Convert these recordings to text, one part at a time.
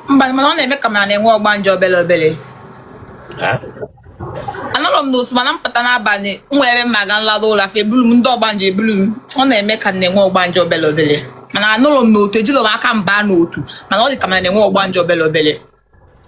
mba mana ọ na-eme ka mana na-enwe ọgbanje obele obele anọrọ m n'otu mana m pụta n'abalị nwere m aga nlada ụla fa ebulu m ndị ọgbanje ebulu m ọ na-eme ka na-enwe ọgbanje obele obele mana anọrọ m n'otu ejilọ m aka m ba n'otu mana ọ dị ka mana na-enwe ọgbanje obele obele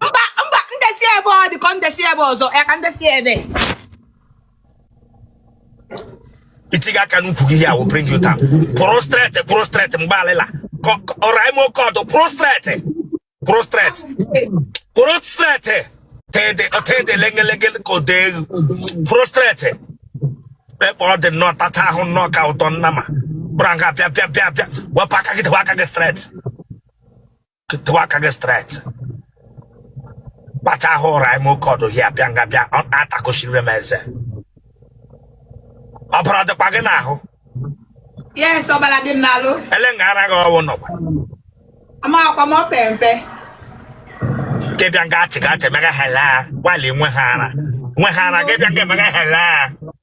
mba mba ndesi ebe ọ dị ka ndesi ebe ọzọ ya ka ndesi ebe i tiga aka n'ukwu gị i will bring you down kwụrụ straight kwụrụ straight mgbe alịla ọra ime oke ọdụ kwụrụ straight kwụrụ straight kwụrụ straight tede ọtede lengelenge ka o dee egwu kwụrụ straight ekpe ọ dị nnọọ tata ahụ nnọọ ka ụdọ nnama bụrụ nga bịa bịa bịa bịa wepụ aka gị dewe aka gị straight ketewa aka gị straight kpacha ahụ ụra ime oke ọdụ here bịa nga bịa ọ atakosiri m eze ọbara ọ dịkwa gị n'ahụ yes ọbala dị m n'alụ ele nga ara gị ọwụ nọkwa amakwa m ọpe mpe gị bịa nga achị ga achị mega hela nwale nwe ha ara nwe ha ara gị bịa nga emega hela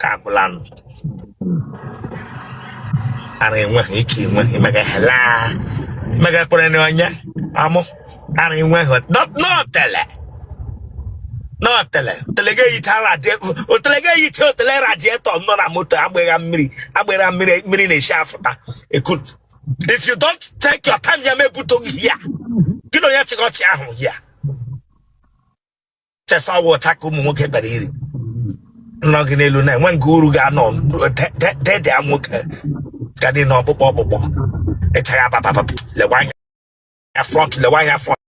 ka agwụla nụ ara enweghị ike enweghị mega hela mega kpere na onye amụ ara enweghị not n'otele n'otele otele gị eyicha radiator otele gị eyicha otele radiator nọ na moto agbịgha mmiri agbịgha mmiri mmiri na-esi afụta ekut if you don't take your time a m ebutu gị here gị na onye chịkọchị ahụ here chesa ọwa ọcha ka ụmụ nwoke bịara iri nọ gị n'elu na-enwe nke uru ga-anọ dedea nwoke ga dị na ọkpụkpụ ọkpụkpụ ịchagha papapapa lewa anya front lewa anya front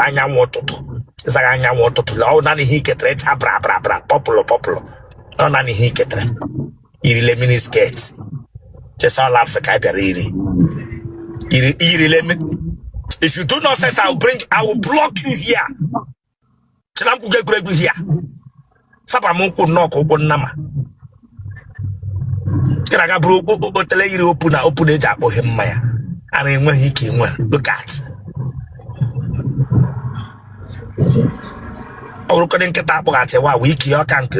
anyanwụ ụtụtụ ị zaghị anyanwụ ụtụtụ lee ọ nanị ihe i ketere ịcha bra bra bra purple purple ọ nanị ihe i ketere irile mini skirt chesa laps ka ị bịara iri Iri- irile mi- if you do nonsense i will bring i will block you here chee na m gwuga egwuregwu here saba m ụkwụ nnọọ ka ụkwụ nnama ị na-aga bụrụ o- o- otele yiri opener opener e ji akpọghe mmanya ara enweghị ike enweghị look at ọ bụrụkọdị nkịta akpọghachi wa wee ike ya ọka nke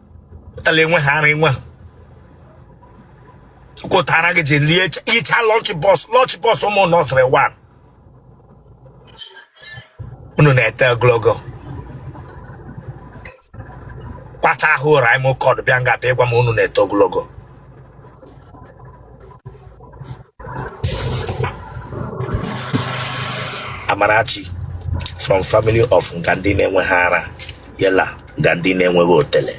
otele enwe ha ara enwe ha kwụtara gị ji lie yicha lunch box lunch box ụmụ nursery one unu na-eto ogologo kpata ahụ ụra ime ụkọdụ bịa nga bịa ịgwa m unu na-eto ogologo Amarachi from family of nga ndị na-enweghị ara yela nga ndị na-enweghị otele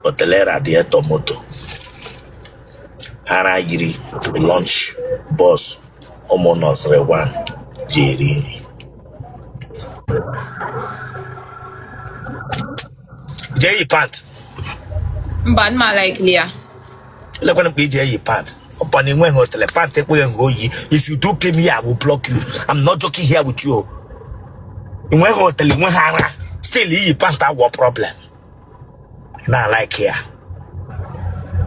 otele radiator moto ara yiri lunch box ụmụ nursery one ji eri nri jee yi pant mba nma likely ya elekwana mgbe i ji eyi pant upon na i nweghị otele pant ekweghị nke oyi if you do pay me i will block you i'm not joking here with you i nweghị otele i nweghị ara still iyi pant awụ problem na like ya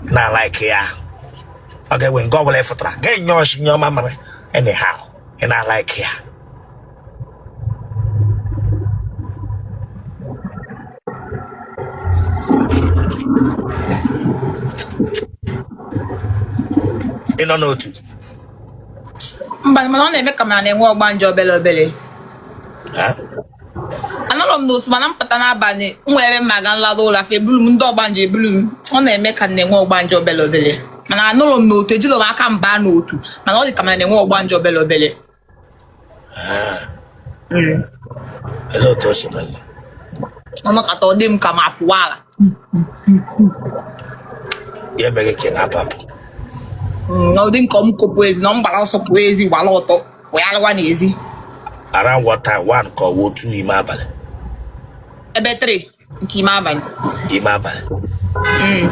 na like ya ọ ga-enwe nke ọ bụla ị fụtara ga-enye ọchị nye ọma mara anyhow ị na like ya ị nọ n'otu mba mana ọ na-eme ka m na-enwe ọgbanje obele obele Ha? anọrọ m n'otu mana m pụta n'abalị nwee ebe m ma aga m lada ụla fa eburu m ndị ọgbanje eburu m ọ na-eme ka m na-enwe ọgbanje obele obele mana anọrọ m n'otu ejiro m aka m baa n'otu mana ọ dị ka m na-enwe ọgbanje obele obele Ele otu o si mele. ọ nọkata ọ dị m ka m apụwa ala Ya eme gị ka ị na-apapụ. Mm, ọ dị m ka m kopụ ezi na m gbala ọsọ pụọ ezi gbala ọtọ wee alụwa n'ezi Around what time? One ka ọ wụ two ime abalị. ebe 3 nke ime abalị ime abalị mm.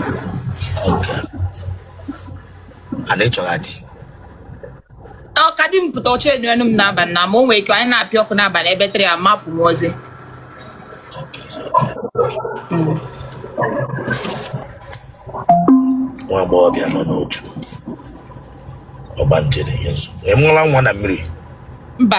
okay ana ịchọrọ adị ọ ka di m pụta ọcha enu enu m n'abalị na ma o nwere ike anyị na-apịa ọkụ n'abalị ebe 3 amapụ m ezi nwa agbọghọbịa nọ n'otu ọgbanje na-enye nsogbu i nwela nwa na mmiri mba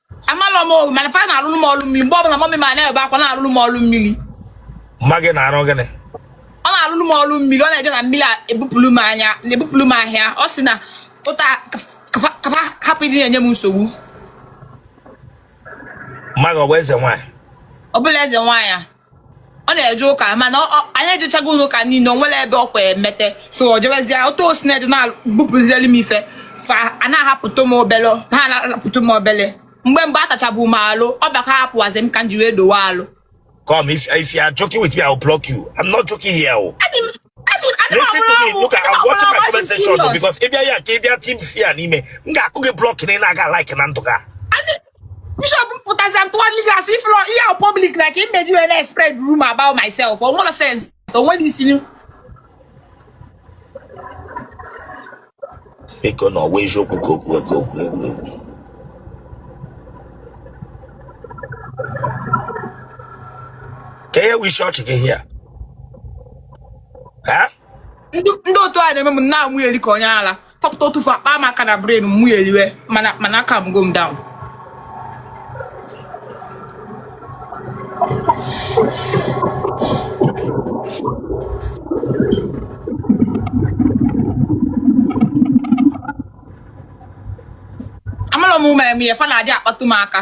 amalọ m o mana fa na-alụlụ m ọlụ mmili mgbe ọbụla mummy m a na-ebe akwa na-alụlụ m ọlụ mmili mma gị na-arụ gịnị ọ na-alụlụ m ọlụ mmili ọ na-eje na mmili a ebupụlụ m anya na-ebupụlụ m aja ọ sị na ụta ka fa ka fa hapụ ịdị na-enye m nsogbu mma gị ọ bụ eze nwaanyị ọ bụrọ eze nwaanyị a ọ na-eje ụka mana anyị ejechago ụka niile o nwerọ ebe ọkwa emete so ọ jebezie otu o si na-eje na-ebupụzielu m ife fa a na-ahapụta m obele ha na-ahapụta m obele mgbe mgbe a tachabu m alụ ọ bịa ka hapụwazi m ka m ji wee dowe alụ Come, if, if you are joking with me, I'll block you. I'm not joking here. oh. Adị m- adị m- adị m Listen to ọhụrụ me. ọhụrụ. Look, I'm watching my Adị m comment section serious. oh, because if you are here, if you are team fear anime, nga aku ge block ni na ga like na nduga. Adị- bishop pụtazi ntụgharị gị asị ifụlọ ihe ahụ public na ka imeji wee na-spread rumor about myself o nwere sense o nwere isi biko na ọ wụ eziokwu ka ọ wụ ka ọ wụ egwuregwu ka ihe wu isi ọchị gị here ha ndị ndị otu a na-eme m na mụ yell ka onye ara tọpụta otu fa kpaa m aka na brain mụ a-yelliwe mana mana a-calmgo m down amarọ m ụma eme ya fa na-adị akpatụ m aka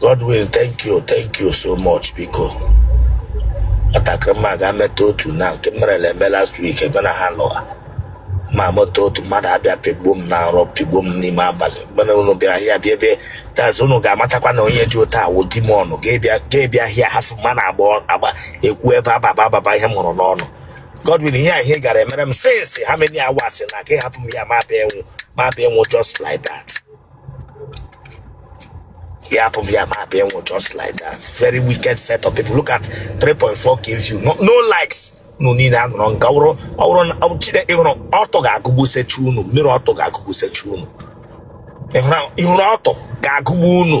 Godwin thank you thank you so much biko nwatakịrị mma ga-emeta otu na nke merela eme last week ebe na ha lụwa ma mụta otu mmadụ abịa pịgbuo m na nrọ pịgbuo m n'ime abalị mgbe unu bịara here bịa ebe that's unu ga-amatakwa na onye dị otu a wụ demon ọ ga-ebịa ga-ebịa here hafụ mma na agba agba ekwu ebe ababa ababa ihe m hụrụ n'ọnụ Godwin ihe a ihe gara emere m since how many hours na ka ị hapụ m ya ma bịa enwu ma bịa enwu just like that ya hapụ m ya ma bịa enwu just like that very wicked set of people look at 3.4 k views no, no likes unu niile a nọrọ nka wụrụ ọ wụrụ na ọ chide ịhụrụ ọtọ ga-agụgbusicha unu mmiri ọtọ ga-agụgbusicha unu ịhụrụ ịhụrụ ọtọ ga-agụgbu unu